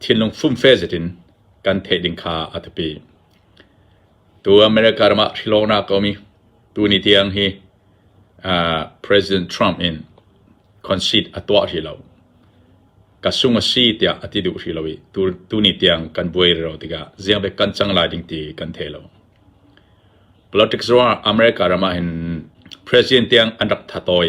thinlung fumfe zetin kan theih ding kha a biapi. Tu America ram ah thrilawknak a um i tuni tiang hi President Trump in conceit a tuah hrih lo. Ka sung a si tiah a ti duh hrih lo i tuni tiang kan buai rero tikah ziangbe kan cang lai ding ti kan thei lo. Politics ruang America ram ah hin President tiang an rak thatoi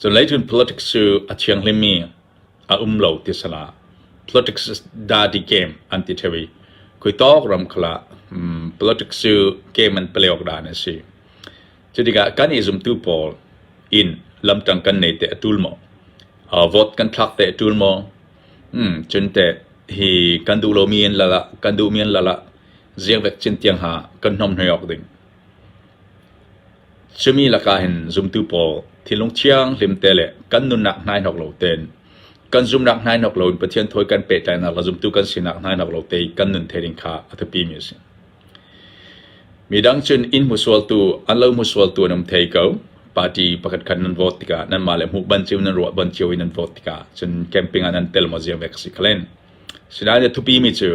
Cunglei cun politics cu a thianghlimmi a um lo ti a si la. Politics is dirty game an ti ṭheu i khuitawk ram kha lah politics cu game an play awk dan a si. Cu tikah kan i zumtu pawl in lamṭang kan nei teh a ṭul maw? Uh, vote kan thlak teh a ṭul maw? Hmm, cun teh hi kan duh lomi an lal ah, kan duhmi an lal ah ziakvek cin tiang ha kan hnawmhnoi awk ding. Cumi lakah hin zumtu pawl thinlung thianghlim te le kan nunnak hnainawk lo tein kan zumnak hnainawk loin Pathian thawi kan pehtlainak le zumtu kan sinak hnainawk lo te i kan nun thei ding kha a biapimi a si. Midang cun inn hmuhsualtu, an lo hmuhsualtu an um thei ko. Party pakhatkhat nan vote tikah nanmah le hmuh ban cio, nan ruah ban cio i nan vote tikah cun camping ah nan tel maw zia vek a si kha len. Sinain a thupimi cu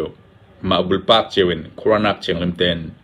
mah bulpak cio in khuaranak thianghlim tein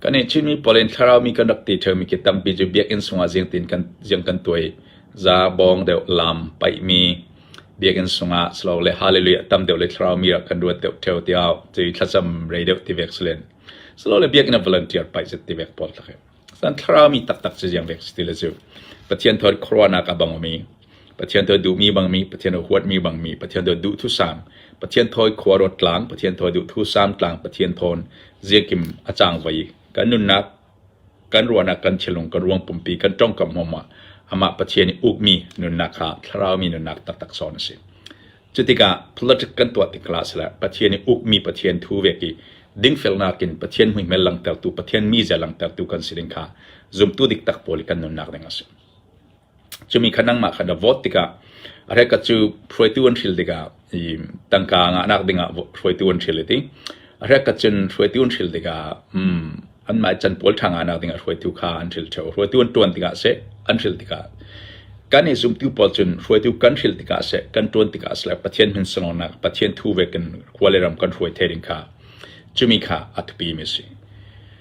Kan i Chinmi pawl in thlaraumi kan rak ti ṭheomi khi tampi cu biakinn sungah zingtin ziang kan tuai. Za, bawng deuh, lam, paihmi biakinn sungah silole hallelujah tam deuh le thlaraumi ah kan ruat deuh ṭheo tiah cun thlacam rei deuh ti vek si len. Silole biakinn ah volunteer paih zet ti vek pawl tak hi. San thlaraumi taktak cu ziang vek si ti le cu. Pathian thawt khuaruahnak a bangmi Pathian tuah duhmi bangmi, Pathian a huatmi bangmi, Pathian tuah duhthusam, Pathian thawi khuaruat tlang, Pathian tuah duhthusam tlang, Pathian thawn ziakim a cangvei. Kan nunnak, kan ruahnak, kan thinlung, kan ruang pumpi, kan tongkam hmawmah amah Pathian i ukmi nunnak kha thlaraumi nunnak taktak sawn a si. Cutikah politic kan tuah tikla si le Pathian i ukmi Pathian thu vek i dingfelnak in Pathian muihmel langhtertu, Pathian mize langhtertu kan si ding kha zumtu diktak pawl i kan nunnak ding a si. Cumi kha nangmah kha na vote tikah a hrekkhat cu hruaitu an hril tikah i tangka ngahnak dingah hruaitu an hril i ti. A hrekkhat cun hruaitu an hril tikah um, anmah i canpual ṭha ngahnak dingah hruaitu kha an hril ṭheo. Hruaitu an ṭuan tikah seh, an hril tikah. Kan i zumtu pawl cun hruaitu kan hril tikah seh, kan ṭuan tikah seh le Pathian min sangawnak, Pathian thu ve kan khua le ram kan hruai the ding kha cumi kha a thupi mi a si.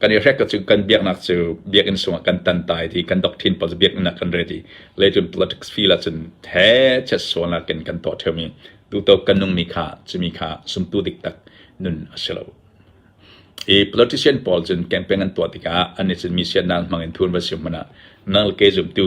kan i hrek cu kan biaknak cu biakinn sungah kan tantai ti kan doctrine pawl biakinn ah kan ready le cun politics field ah cun he chet sualnak in kan tuah ṭheumi tuto kan nungmi kha cumi kha sumtu dik tak nun a si lo i politician pawl cun campaign an tuah tikah an i cun mi siannak hmang in thun va si hmanh ah nang le kei zumtu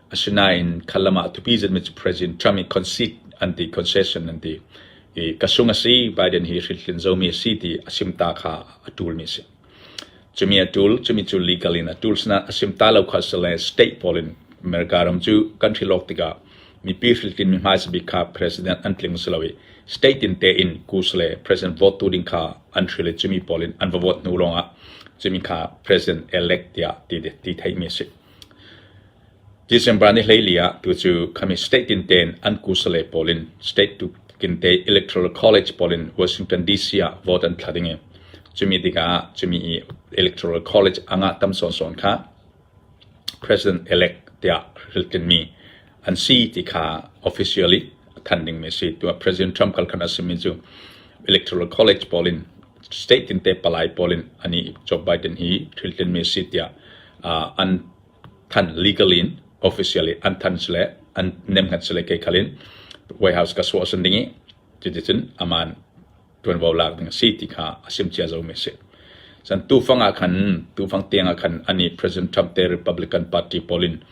Asinain kha lam ah tupi zetmi cu President Trump i concede an ti, concession an ti. I ka sung a si, Biden hi hritlin zomi a si ti a simta kha a ṭulmi a si. Cumi a ṭul, cumi cu legal in a ṭul. Sinain a simta lo kha si le state pawl in America ram cu kan hrilawk tikah mipi hritlin mi hmaisa bik kha president an tling si lo i state in tein kus le president vote tu ding kha an hril i cumi pawl in an va vote hnu lawngah cumi kha president elect tiah ti, ti theihmi a si. December ni hleili ah tucu kami state tintein an kusale pawl in state tute electoral college pawl in Washington DC ah vote an thla ding i cumi tikah cumi i electoral college a ngah tam sawnsawn kha president-elect tiah ril tlinmi an si ti kha officially a thanh dingmi a si. Tiah President Trump khal khan a simi cu electoral college pawl in state tinte palai pawl in ani Joe Biden hi thiltlinmi a si tiah uh, an thanh legally in officially an thanh sile an nemngat sile ke khalin White House ka suah san ding i cuticun aman tuanvo lak ding a si ti kha a sim cia zomi a si. San tufang ah khan tufang tiang ah khan ani President Trump te Republican Party pawl in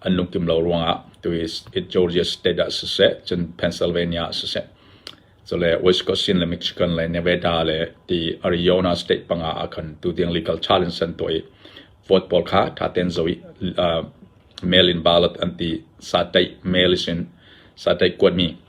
an lungkim lo ruang ah tu Georgia state ah siseh cun Pennsylvania ah siseh so le Wisconsin le Michigan le Nevada le ti Arizona state panga ah khan tu tiang legal challenge an tuai vote pawl kha tha ten zo uh, mail in ballot anti sa tai mail is in sa tai kuat mi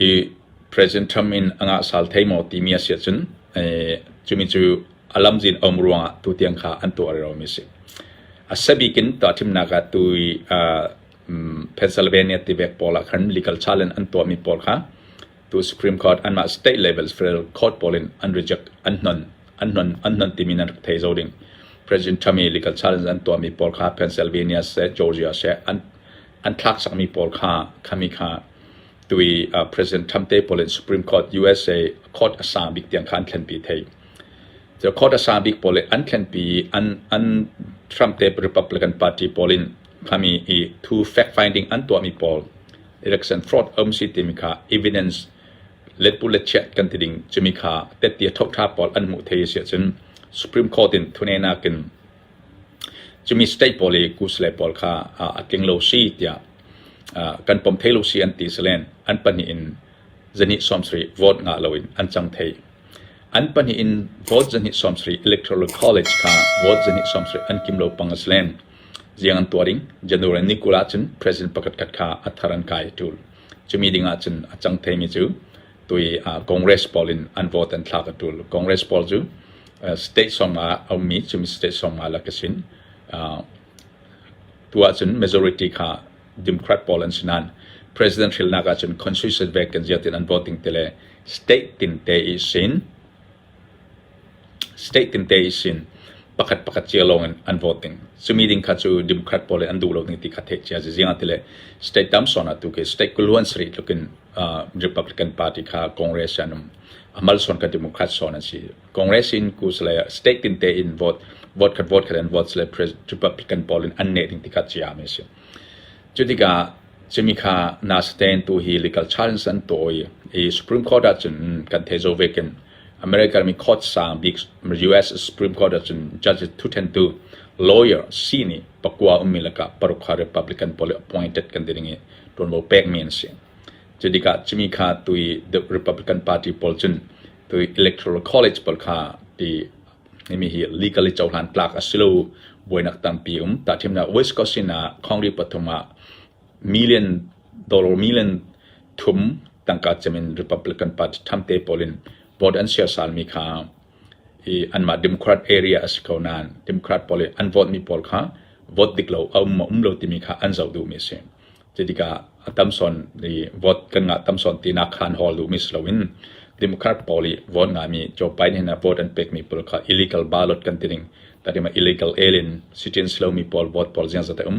Hi President Trump in a ngah sal thei maw timi a si ahcun cumi cu a lamzin a um ruangah tutiang kha an tuahmi a si. A sabik in tahṭimnak ah tu i Pennsylvania tivek pawl ah khan legal challenge an tuahmi pawl kha tu Supreme Court anmah state level federal court pawl in an reject an hnon an hnon an hnon timi nan rak thei zo ding. President Trump i legal challenge an tuahmi pawl kha Pennsylvania seh Georgia seh an an thlak cangmi pawl kha khami kha tui uh, President Trump te pawl in Supreme Court USA court a sa bik tiang kha an thlenpi thei so court a sa bik pawl an thlenpi an an Trump te Republican party pawl in khami i thu fact finding an tuahmi pawl election fraud omsi timi kha evidence let pu let chiat kan ti ding chumi kha te tia thok tha pawl an mu thei si cun Supreme Court in thunena kin Cumi state pawl i Goose le pawl kha a tling lo si tiah kan pom thai lo si an ti silen an pahnih in zahnih sawmsarih vote ngah loin an cang thai. An pahnih in vote zahnih sawmsarih electoral college kha vote zahnih sawmsarih an kim lo pang a silen ziang an tuah ding January ni kul ahcun president pakhatkhat kha a thar an kai a tul. Cumi ding ahcun a cang thaimi cu tui ah Congress pawl in an vote an thlak a tul. Congress pawl cu uh, state song ah a ummi cun state song ah lak a sin. Uh, tu ahcun majority kha Democrat pawl an si nain president hrilnak ahcun constitution vek kan ziatin an voting te le state tinte i sin State tinte i sin pakhat pakhat cia lawngin an vote ding. Cumi ding kha cu Democrat pawl nih an duh lo ding ti kha theih cia ziziang ah tile state tam sawn ah tu khi state kuluan sarih tlukin uh, Republican Party kha Congress an um. A malsawn ka Democrat sawn an si. Congress in kus le state tinte in vote vote khat vote khat an votes le Republican pawl in an ne ding ti kha cia mi si. Cu tikah cumi kha na stain tu hi legal challenge an tawi i Supreme Court ah cun kan thei zo vekin American mi court sang bik US Supreme Court ahcun judge thuṭhentu lawyer si nih pakua ummi lakah paruk kha Republican pawl i appointed kan ti ding i ṭuanvo pekmi an si. Cu tikah cumi kha tui the Republican Party pawl cun tui electoral college pawl kha ti himi hi legally cohlan tlak a si lo buainak tampi um. Ta thimnak Wisconsin ah Congress pathum ah Million dollar million thum tangka cem in Republican party ṭhamte pawl in vote an siasalmi kha hi anmah Democrat area a si ko nain Democrat pawl i an vote mi pawl kha vote dik lo a um maw um lo timi kha an zoh duhmi a si. Cutikah a tam sawn i vote kan ngah tam sawn tinak khan hol duhmi si loin Democrat pawl i vote ngaimi Joe Biden in vote an pekmi pawl kha illegal ballot kan ti ning tatima illegal alien citizen si lomi pawl vote pawl ziangzat a um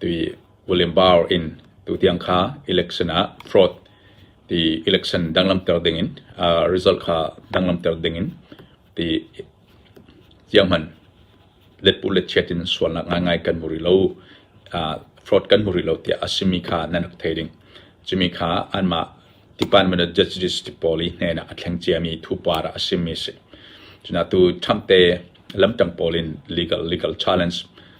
Ti William Barr in tutiang kha election ah fraud ti election danglamter dingin aa result kha danglamter dingin ti tiahman letpuh letchiat in sualnak ngaingai kan hmu rih lo, aa fraud kan hmu rih lo tiah a simi kha nan rak thei ding. Cumi kha anmah Department of Justice ti pawl i hnenah a thleng ciami thupar ah a simi a si. Cuna tu Trump te lamtang pawl in legal legal challenge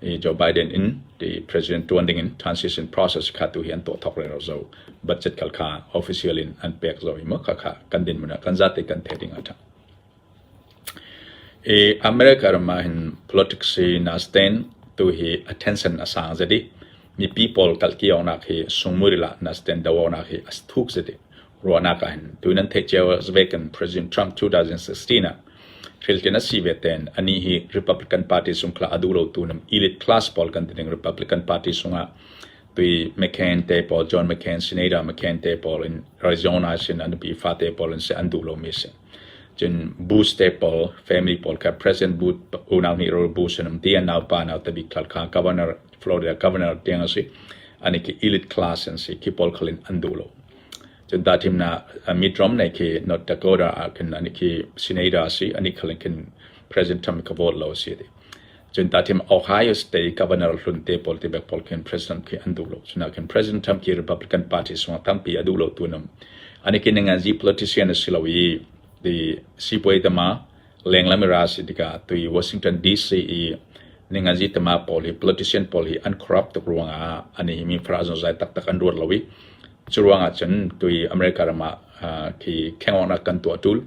Joe Biden in president tuan ding in transition process kha tu hi an tuah thok rero zo budget kal kha official in an pek zo i mo kha kha kan din mun kan za te kan the ding ata e america ma hin politics hi na stand tu hi attention asang zedi mi people kal ki ona hi sungmuri la na stand dawo na hi as thuk zedi ruahnak ahhin tun an theih cio ah Vatican President Trump 2016 ah thiltin a si ve tein anih hi Republican Party sung khla a duh lotu elite class pawl kan ti ding Republican Party sungah tui McCain te pawl John McCain Senator McCain te pawl in Arizona sin an pi fa te pawl in se an duh lomi si cun Bush te pawl family pawl kha President Bush unau nih Bush in um ti an nau pa nau tabik thal kha governor Florida governor tiang a si ani khi elite class an si khi paul khalin an duh lo cun da thim na mid rom nei khi north dakota a kin ani khi senator a si ani khalin kin president trump ka vote lo si ti cun da thim ohio state governor hlun te pol te bek pol kin president khi an duh lo cuna kin president trump ki republican party song tampi a duh lo tu nam ani kin ngan ji politician a si lo i the seaway tama Lengla mira a si tikah tui Washington DC i ninganzi tema pawl hi politician pawl hi an corrupt tuk ruangah an i mifra zonzai taktak an ruat lo i cu ruangah cun tui America ram ah khi khengawnak kan tuah tul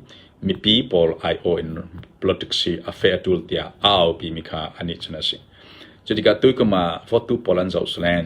mipi pawl ai-aw in politics hi a feh a tul tiah a aupi mi kha anih cun a si. Cu tikah tuikum ah votu pawl an zoh salen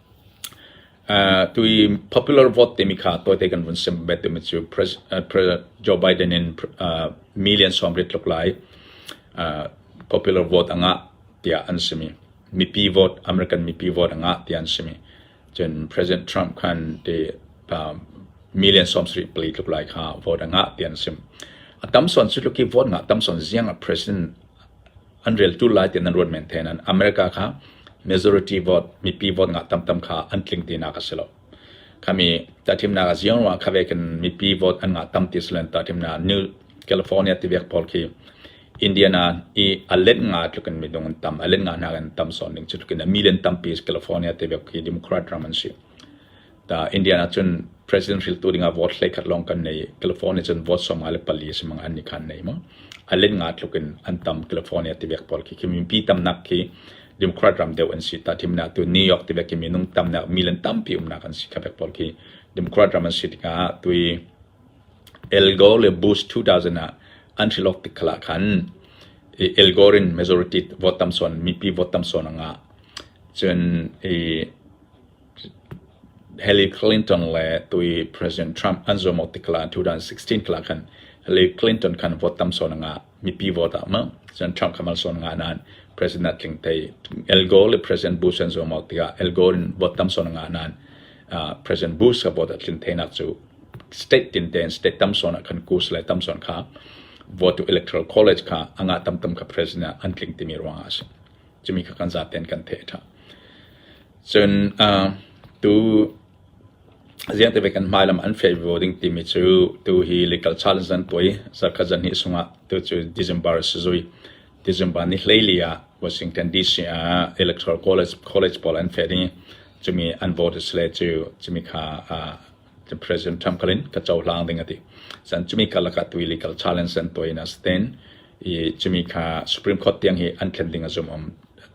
Tui popular vote timi kha tawite kan vun sim bet timi cu Joe Biden in million sawmrit tluk lai popular vote angah tiah an simi. Mipi vote, American mipi vote angah tiah an simi. Cun President Trump khan ti million sawmsarih pali tluk lai kha vote angah tiah an sim. A tam sawn cu tluki vote ngah tam sawn ziang a president An reltu lai tiah nan ruat men theng nain America kha majority vote, mipi vote ngah tamtam kha an tling tinak a si lo. Khami tahthimnak a ziang ruangah khawei kan mipi vote an ngah tam ti si len tahthimnak New California tivek pawl khi Indiana i a let nga tlukin midung an tam, a let nga hnak in tam sawn ding cu tlukin a million tampi California tivek khi Democrat ram an si. Indian ah cun president hriltu dingah vote hleikhat lawng kan nei. California cun vote sawm nga le pali a si mang an ni khan nei maw. A len nga tluk in an tam California tivek pawl khi. Khi minpi tamnak khi Democrat ram deuh an si. Ta thimna tu New York tivek khi minung tamnak milan tampi umnak an si. Khabek pawl khi Democrat ram an si tikah tui El Gore le Bush 2000 ah an hrilok tik khala khan El Gore in majority vote tam son mipi vote tam son anga cun Hillary Clinton le tui President Trump an zuam awk tikah 2016 kal ah khan Hillary Clinton khan vote tam sawn ngah mipi vote ah maw cun Trump kha mal sawn ngah nain President tling thei Al Gore le President Bush an zuam awk tikah Al Gore in vote tam sawn ngah nain President Bush kha vote ah tlin theinak cu state tin tein state tam sawn ah khan kus le tam sawn kha vote to electoral college kha a ngah tam tam kha President an tling timi ruangah a si. Cumi kha kan zaten kan theih a tha. Cun tu ziah tive kan hmai lam an fial ve ding timi cu tu hi legal challenge an tuai. Zarkhat zarhnih chungah tu cu December a si zui. December ni hleili ah Washington DC ah Electoral College college pawl an fial ding i cumi an vote sile cu cumi kha President Trump khalin ka cohlang ding ati. San cumi ka lakah tu legal challenge an tuai in a si ten. I cumi kha Supreme Court tiang hi an thlen ding a zum um.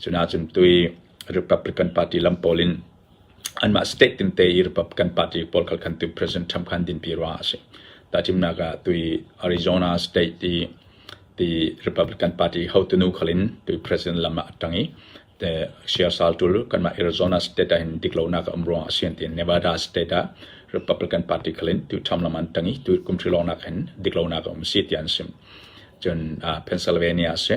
Cunahcun tui Republican party lam pawl in anmah state tinte i Republican party pawl kha khan tu President Trump kha an dinpi ruangah a si. Tahchimnak ah tui Arizona state i ti Republican party hotunu khal in tui President lam ah a ṭang i te share sal ṭul kanmah Arizona state ah hin dik lonak a um ruangah a si an ti. Nevada state ah Republican party khal in tu Trump lam an ṭang i tu kum ṭhilawnak hin dik lonak a um si ti an sim. Cun uh, Pennsylvania a si.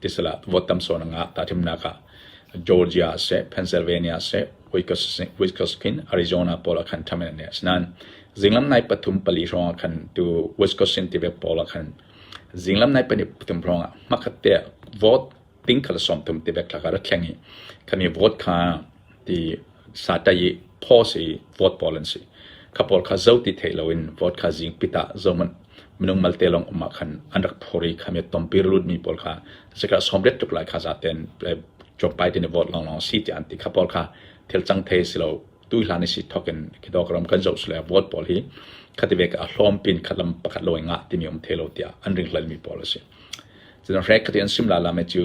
Tisal ah vote tam sawn a ngah. Tahthimnak ah Georgia ah seh, Pennsylvania ah seh, Wisconsin, Arizona pawl ah khan ṭham in an neh. Asinain zinglam nai pathum pali hrawng ah khan tu Wisconsin tive pawl ah khan zinglam nai pahnih pathum hrawng ah hmakhat te vote ting khala som thum tive klak ah rak thleng i khan i vote kha ti sa ta i pho si vote pawl an si. Kha pawl kha zo ti thei lo in vote kha zing pita zo man minung malte lawng um ah khan an rak phur i kha mi tompi lutmi pawl kha sikah sawmriat tluk lai kha zaten tlawmpai tein i vote lawnglawng a si tiah an ti kha pawl kha thil cang thei si lo tu hlan i si thok in khidawk ram kan zoh sule vote pawl hi khati ve ka hlawm pin khat lam pakhat lo ngah timi um the lo tiah an ring hlal mi pawl a si. Cun hre khati an sim la la me cu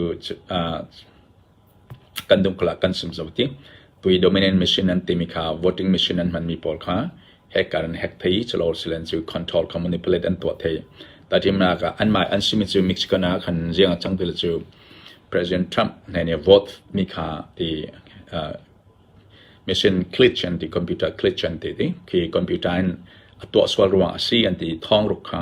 Kan dungkal ah kan sum zau tik, pui dominant machine an timi kha voting machine an hmanmi pawl kha hacker an hack thai i culawr silole cu control kha manipulate an tuah thai. Tahtinnak ah anmah an simi cu Mexican ah khan ziang a cang ti lo cu President Trump hna nih vote mi kha ti uh, machine glitch an ti, computer glitch an ti ti. Khi computer in a tuah sual ruang a si an ti thawng ruk kha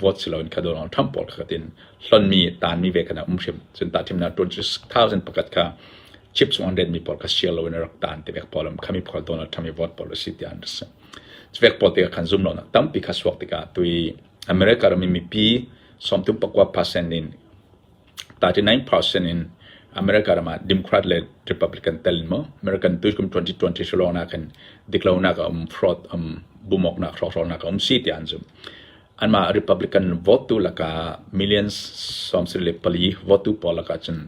vote si loin kha Donald Trump Trump pawl kha tin hlonmi tanmi ve kha um hrim cun ta thimnak 2000 pakhat kha chip chung an retmi pawl kha share loin rak tan te vek pawl am khami pawl Donald Trump i vote pawl si ti an si vek pawl te khan zum lo na tampi kha suak tikah tui America rami mipi somtum pakwa percent in 39 percent in America ram ah Democrat le Republican tel in maw American tu kum 2020 sulawnak in diklonak a um fraud um bumawknak hrawkhralnak a um si tiah an zumh anmah Republican vote tu lakah millions sawm sarih le pali vote tu pawl lakah cun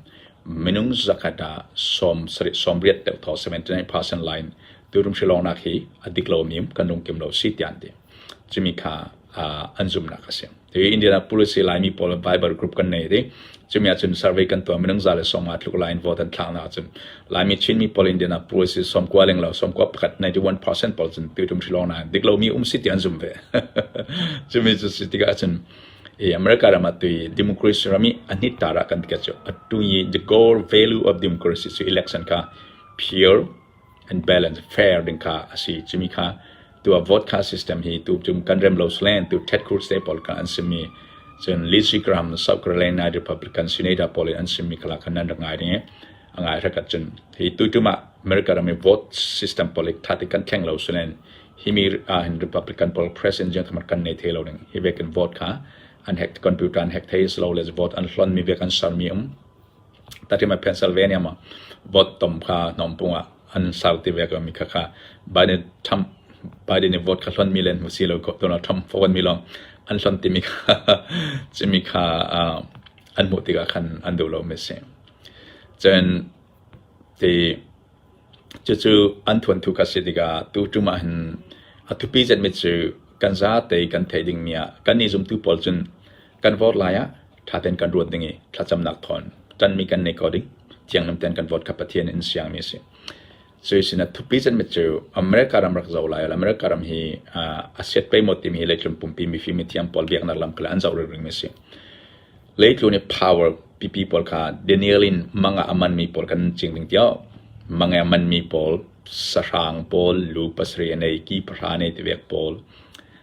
minung zakhat ah sawm sarih sawm riat deuh thaw 79 percent line tu rum sulawnak hi a diklo mim kan lungkim lo si tian ti cumi kha an zumnak a si India rak policy laimi pawl Bible group kan nei ti cumi ah cun survey kan tuah minung za le som aa tluk lain vote an thlak na cun laimi Chinmi pawl Indian ah policy som kua leng lo som kua pakhat 91% pawl cun tu tum shilong na dik lomi um si ti an zum ve cumi cu si tikah cun America ram atui democracy rami anit tara kan tikat chu atu the core value of democracy su election ka pure and balance fair ding kha a si. Cumi kha tu ah vote kha system hi tu cun kan rem lo slen tu Tet Cruz te pawl kha an simi cun Lizzy Graham South Carolina Lai Republican senator pawl in an simi kala khan nan ngai ding a ngai rakat cun hi tu tum ah America ram vote system pawl ik thati kan thleng lo slen hi mi in Republican pawl president jang kamar kan nei the lo ding hi ve kan vote kha an hack computer an hack thei slow let's vote an hlon mi ve kan ser mi um Tatiam a pencil ve niam ah votum kha hnompung ah an sarti ve ko mi khakha Biden Trump Biden i vote kha hlon mi le an hmu si lo ko Donald Trump vote mi lawng an hlon ti mi kha cimi kha uh, an hmuh tikah khan an duh lo mi si cun ti cucu an thuan thu kha si tikah tu tum ah hin a thupi zet mi cu kan za te kan thei ding mi ah kan ni zumtu pawl cun Kan vote lai ah ṭha tein kan ruat ding i thlacamnak thawn ṭanmi kan nei kho ding thianghlim tein kan vote kha Pathian in siangmi a si. Cu i sinah thupi canmet cu America ram rak zoh lai lo. America ram hi a siat peimawt timi hi leitlun pumpi mifim mithiam pawl biaknak lam kha an zoh ringring a si. Leitlun i power pipi pawl kha Daniel in manga a manmi pawl kan cing ding tiao. Manga a manmi pawl sahrang pawl, lu pasarih a nei, ki pahra nei tivek pawl,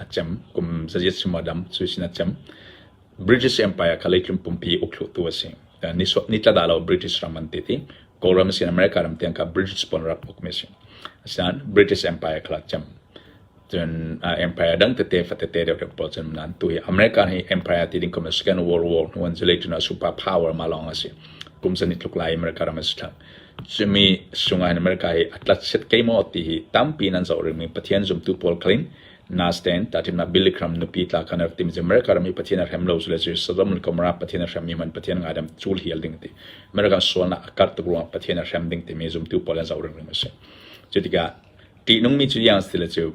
a cem kum zazi sima dam cu sin a cem British Empire kha leitlum pumpi ukhluhtu a si ni so ni tlada lo British ram an ti ti Kawlram sin America ram tiang ka British pon rap uk me si asian British Empire khala cem cun empire dang tete fatete deuh deuh pawl cun nan tu hi America hi empire ti ding kum Second World War nu an zulai tuna super power ma long asi kum san ni tluk lai America ram asi thak Cumi Sunglain America hi a tlat set kei maw ti hi tampi nan zoh ringmi Pathian zumtu pawl khalin naa sten tahtimnak Billy Graham nupi tla kan rak timi cu America ram i Pathian a hrem lo sule cu Sodom le Gomorrah Pathian a hrem i man Pathian ngadem cul hial ding ti American sualnak a karh tuk ruangah Pathian a hrem ding timi zumtu pawl an zoh ringring a si. Cu tikah ṭihnungmi cu yang si le cu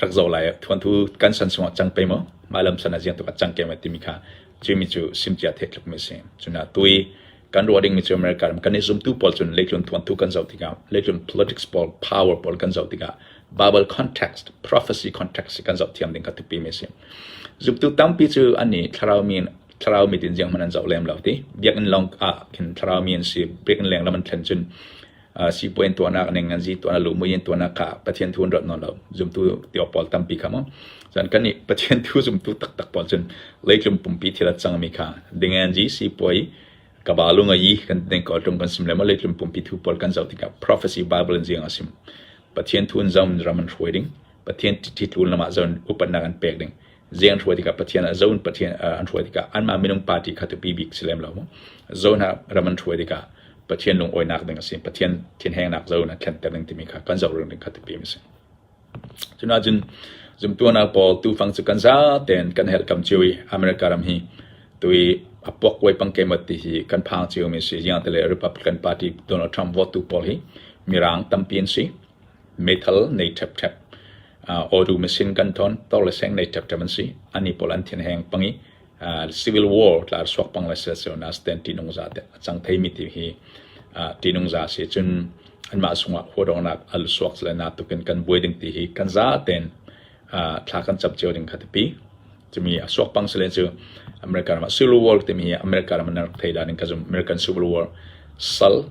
rak zoh lai thuanthu kan san sungah cang pe maw mah lam san a jiang tukah cang ke ma timi kha cu mi cu sim cia the tluk mi si cuna tui kan ro ding mi cu america ram kan i zum tu pawl cun leitlun thuanthu kan zo tikah leitlun politics pawl power pawl kan zo tikah bible context prophecy context kan zo thiam ding ka tipi mi si zubtu tampi cu ani thlarau min thlarau mi tin jiang man an zo lem lo ti biak in long a kin thlarau mi an si biak in leng laman thlen cun sipuai in tuahnak ning an zi tuahnak lumui in tuahnak kha Pathian thu an rat nawn lo zumtu tio pawl tampi kha mo chan kan i Pathian thu zumtu taktak pawl cun leitlum pumpi thila changmi kha dingen ji sipuai kabalu nga yi kan deng ko tum kan sim le ma leitlum pumpi thu pawl kan zau tika prophecy bible in jing asim Pathian thu in zam raman hruai ding Pathian ti tul nama zan upatna kan pek ding Zean hruai tikah Pathian a zon Pathian an hruai tikah anmah minung party kha tu bibik si lem lo zon ah ram an hruai tikah Pathian lungoinak ding a si Pathian thinhengnak zon a thlenter ding timi kha kan zohring ding kha tu pim a si cuna cun zumtuana paul tu fang cu kan za ten kan her kam chiu i america ram hi tui apuak koi pang ke mat ti hi kan phang chiu mi si yang tele republican party donald trump vote tu paul hi mirang tampi an si Meithal nei ṭhepṭhep, awdu machine gun thawn, tor le seng nei ṭhepṭhep an si. Annih pawl an thenheng pang i civil war tla suak pang le silsilonak a si tiah ṭihnung za te a cang theimi ti hi ṭihnung za a si. Cun anmah cungah huadawngnak a suak le natuk in kan buai ding ti hi kan za tein thla kan cam cio ding kha tipi. Cumi a suak pang sile cu America ram ah civil war timi hi America ram an rak thei dan in ka zumh American civil war sal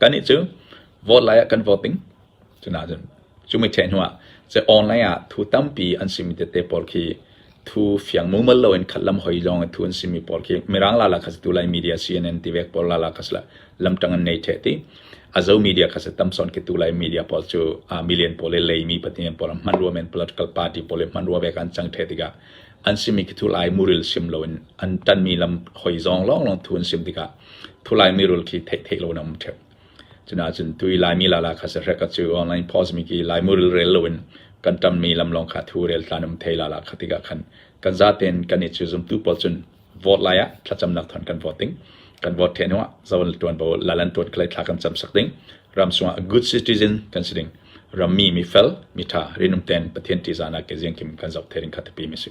Kannih cu vote lai ah kan voting. Cunain cu mitthei hnuah cun online ah thu tampi an simi tete pawl khi thu fiang mumal loin khat lam hoi zong in thu an simi pawl khi Mirang lala kha si tu lai media CNN tivek pawl lala kha si la lamtang an nei ṭheh ti a zo media kha si tamson khi tu lai media pawl cu a million pawl le leimi pahnih pawl hman rua men political party pawl le hman rua ve kan cang ṭheh tikah an simi khi thu lai muril sim loin an ṭanmi lam hoi zong lawng lawng thu an sim tikah Thulaimi rul khi theih theih loin a um ṭhep. Cunaahcun tui Laimi lala kha sahrek a cu online post mi khi Laimi rul rel loin kan ṭammi lam lawng kha thu rel tlan um thei lala kha tikah khan kan zaten kan i cu zumtu pawl cun vote lai ah thlacamnak thawn kan vote ding. Kan vote ṭhen hnuah zoan ṭuanvo lalan ṭuan khalai thla kan cam sak ding. Ram sungah a good citizen kan si ding. Rammi mi fel, mi ṭha, rinum ten Pathian ṭihzahnak ke ziang kim kan zoh thei ding kha tipi mi si.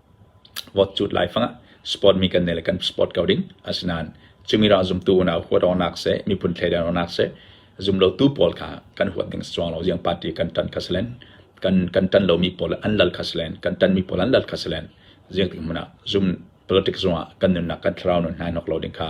Vawtcut laifang ah sport mi kan nei le kan sport ko ding. Asinain cumirah zumtu unau huat awknak seh, miphun thleidan awknak seh, zumlotu pawl kha kan huat ding a si cuang lo. Ziang party kan tan kha si len, kan kan tan lomi pawl an lal kha si len, kan tanmi pawl an lal kha si len. Ziang tik hmun ah zum politik zung ah kan nunnak kan thlarau nun hnai nok lo ding kha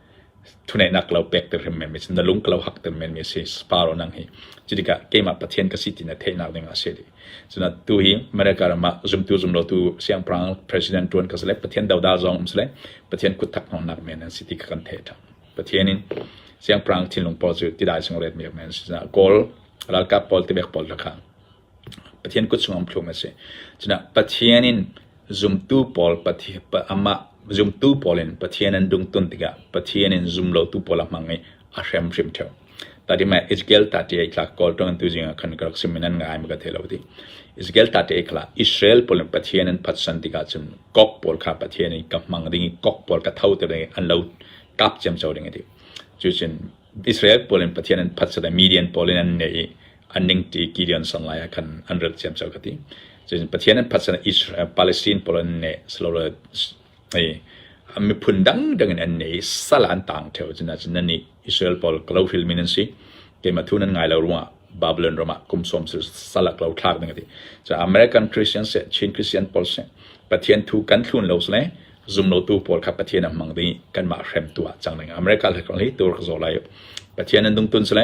thuneihnak ka lo pek te hrimhrim i cun na lung ka lo hak te menmi a si Sparrow nang hi. Cu tikah keimah Pathian ka si ti na theihnak ding a si dih. Cunak tu hi America ram ah zumtu zumlotu siangpahrang president tuan ka si le Pathian dodal zong um si le Pathian kutthak hnawnnak men an si ti ka kan theih ṭhan. Pathian in siangpahrang thinlung pawl cu tidai sung ret mi men si caah Goal ralkap pawl tibek pawl lakha Pathian kut chungah umthlum a si. Cunak Pathian in zumtu pawl zumtu pawl in Pathian an dungtun tikah Pathian in zumlotu pawl a hmang i a hrimhrim ṭheu. Tatimah Ezekiel tati i tlak kawl ṭung tu zingah khan ka rak sim in an ngai mi ka thei lo ti. Ezekiel tati i khala Israel pawl in Pathian an phatsan tikah cun kok pawl kha Pathian i ka hmang ding i kok pawl ka tho te ding i an lo kap ciam co ding a ti. Cucun Israel pawl in Pathian an phatsat i Midian pawl in an neh i an ning ti Gideon song lai khan an rat siam cho ka ti cun Pathian an phat sana Israel Palestine pawl an ne slowly ai mi phun dang dang in an ne salan tang theo cun na cun ni Israel pawl klo hil min an si ke ma thun an ngai lo ruwa Babylon rama kum som sil salak lo thlak ding ti cha American Christians se Chin Christian pawl se Pathian thu kan thlun lo sle zum lo tu pawl kha Pathian am mang di kan ma hrem tu chang ding America le kong hi tur zo lai Pathian an dung tun sle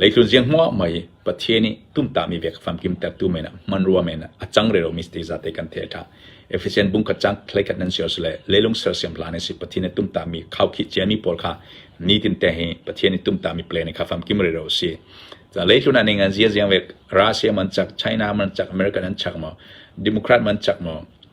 Leitlun ziang hmuahmah i Pathian nih tumtahmi ve ka famkimtertu men ah hmanrua men ah a cangreromi site zate kan theih a ṭha. Efesian bung kacang thleikhat nan siar sule lelung sersiam hlan i si Pathian nih tumtahmi khaukhih ciami pawl kha nitin te hi Pathian nih tumtahmi plan kha famkim rero a si. Ca leitlun ah ning an ziang ziang ve Russia man chak China man chak America nan chak maw Democrat man chak maw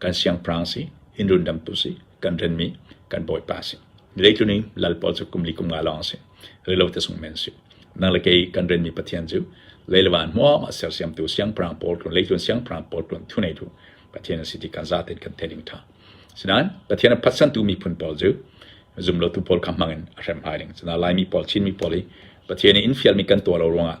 kan siangpahrang si, inn rundamtu si, kan renmi kan bawipa si. Leitluning lal pawl cu kum li kum nga lawng si, rilo te sung men si. Nang le kei kan renmi pathian cu leilawan hmuam a sersiamtu siangpahrang pawl kun leitlun siangpahrang pawl kun thuneitu pathian si ti kan zaten kan thening tha. Sinain pathian a phatsantu miphun pawl cu zumlotu pawl kha hmangin a hrem hai ning. Cuna laimi pawl Chinmi pawl hi pathian in fialmi kan tuah lo ruangah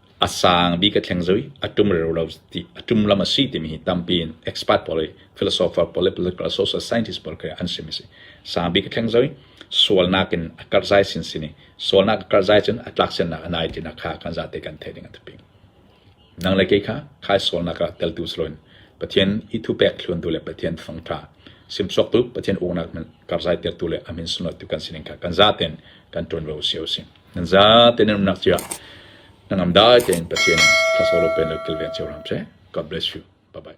A sang bik a thleng zui. A ṭum rero lo ti, a ṭum lam a si timi hi tampi in expert pawl le philosopher pawl le political social scientist pawl khi an simi a si. Sang bik a thleng zui. Sualnak in a karhzai sinsin i sualnak a karhzai cun a tlaksiannak a nai tinak kha kan zate kan theih ding a tapi. Nang le kei kha khai sualnak ah teltu siloin Pathian i thupek thluntu le Pathian fangṭha simchuaktu Pathian uknak min karhzai tertu le a min sunlawtu kan sining kha kan zaten kan ṭuan ve usih usih. Zate na umnak cia na ngam dai tein Pathian thlasol a pen le kilveng cio hram seh. God bless you. Bye-bye.